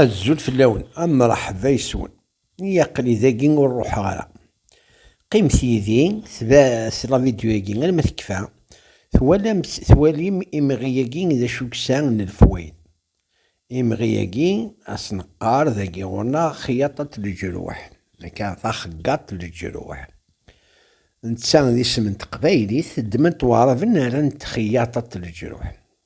Azul fell-awen, a mṛeḥba yes-wen. I aql-i dagi ur ruḥeɣ ara. Qqimet yid-i, tebɛet lavidyu-agi alma tekfa, twalamt, twalim imɣi-agi d acu yesɛa n lefwayd. Imɣi-agi a s-neqqar dagi ɣur-neɣ xyaṭat leǧruḥ, akka, taxeggaṭ leǧruḥ. Netta d isem n teqbaylit, ddmen-t waɛraben rran-t xyaṭat leǧruḥ.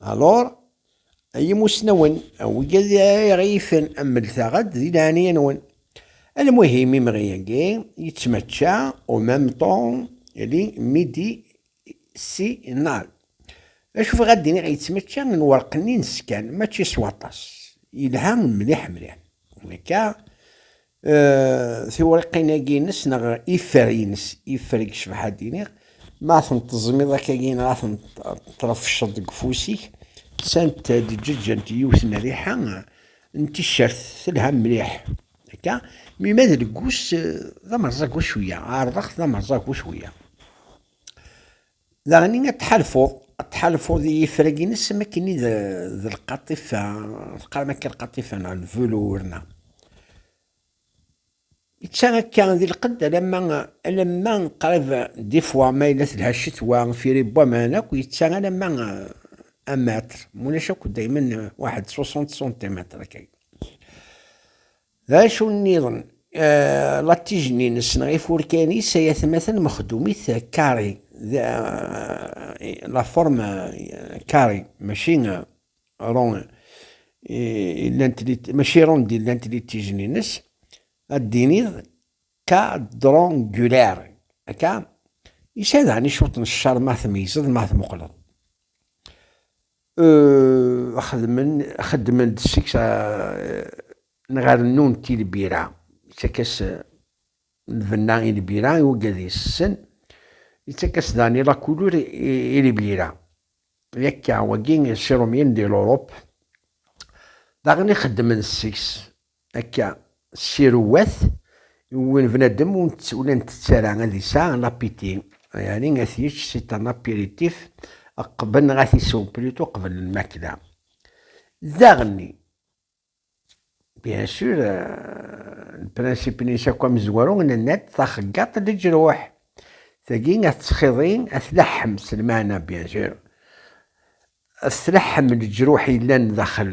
Alor, ay imusnawen, awgad iɣifen ammeltaɣ-d di leɛnaya-nwen. Almuhim imɣi-agi yettmačča au même temps li midi si nal. D acu bɣiɣ ad d-iniɣ yettmačča lwerq-nni n skan, mačči s waṭas. Yelha mliḥ mliḥ. Akka tiwriqin-agi-ines neɣ ifer-ines, ifer i yecbeḥ ad d-iniɣ, ma ten-teẓmiḍ akka-gi neɣ ad ten-trefceḍ deg ufus-ik, sant ad ǧeǧǧent yiwet n rriḥa n ticcert telha mliḥ. Akka, mi ma d leggus d amerẓagu cwiya, ɛerḍeɣ-t d amerẓagu cwiya. Daɣen ad tḥalfuḍ, ad tḥalfuḍ i yifrag-ines am akken i d lqaṭifa, teqqarem akka lqaṭifa neɣ lvelour neɣ. Itta akka di lqedd alamma alamma qrib di fwa ma yella telha ccetwa firi n waman akk itta alamma un mètre, mulac akk daymen waḥed 60 centimetre akka. D acu nniḍen, latij-nni-ines neɣ ifurkan-is ay atmaten mexdumit carré, d la forme carré maci rond i llant maci ronde i llant litij-nni-ines, ad d-tiniḍ quadrangulaire, akka? Yesɛa daɣen i cwiṭ n ccer ma tmeyyzeḍ ma tmuqleḍ. Xeddmen-d seg-s neɣ rennun-t i lbira, ittak-as lbenna i lbira i uggad yessen, ittak-as daɣen i lakulur i lbira. Yakka, wagi, Sirumyen di Lurup, daɣen i xeddmen seg-s Akka, siruwat, win bnadem ur nttett ara ad yesɛa lapiti, yani ad t-yečč si tan apiritif qbel neɣ ad t-isew plutôt qbel lmakla. Daɣenni, bien sûr, lprincipe-nnes akk amezwaru, nenna-d taxeggaḍt leǧruḥ. Tagi ad tettxiḍi, ad tleḥḥem s lmeɛna bien sûr, ad tleḥḥem leǧruḥ yellan daxel.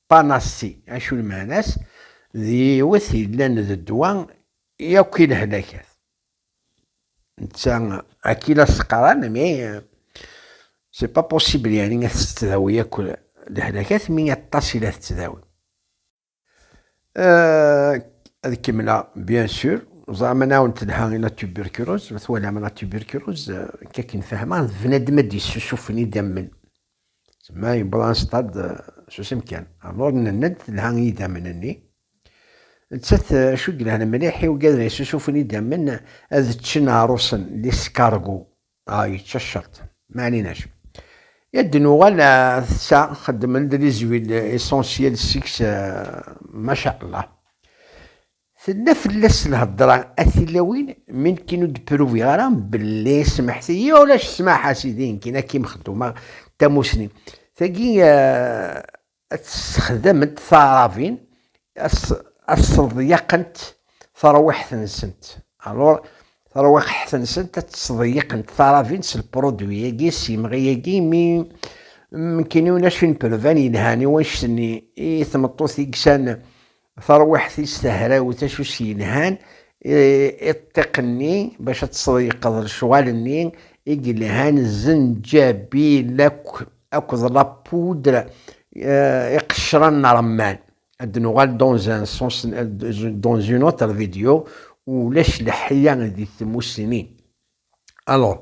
Panasti, acu lmeɛna-s? D yiwet yellan d ddwa i akk i lehlakat. Netta akka i la s-qqaren mi c'est pas possible yeɛni ad tettdawi akk lehlakat mi aṭas i la tettdawi. Ad kemmleɣ bien sûr, ẓram anaw n telha i la tuberculose, ma twalam la tuberculose akka akken fehmeɣ d bnadem ad d-yessusufen idammen Tma yewweḍ anṣeṭṭad eh, s usemkan. Alluḍ nenna-d telha i yidammen-nni. Nettat eh, acu yelhan mliḥ i ugaden ay susufen idammen eh, ad ččen aɛrusen, l'escargot. Ah, yečča ccerṭ. Ma ɛlinac. Ad d-nuɣal ar tessa, xeddmen-d les huiles essentielles seg-s, eh, ma sha Allah. Tella fell-as lhedra a tilawin mi nekkin ur d-pruviɣ ara belli smeḥti-yi ulac ssmaḥ a sidi nekkin ad kim-xeddmeɣ tamusni tagi ad tt-sexdament taɛrabin ad sseḍyaqent tarwiḥt-nsent alors tarwiḥt-nsent ad tt-sseḍyaqent taɛrabin s lpruduwi-agi s yemɣi-agi mi nekkin ulac une preuve yelhan i wannect-nni i tmeṭṭut i yesɛan Tarwiḥt-is tahrawt acu s-yelhan i ṭṭiq-nni bac ad teṣḍeyqeḍ lecɣal-nni i yelhan zenǧabil akked la poudre iqecran n remman. Ad d-nuɣal dans un sens dans une autre vidéo, ulac leḥya di tmussni. Alors.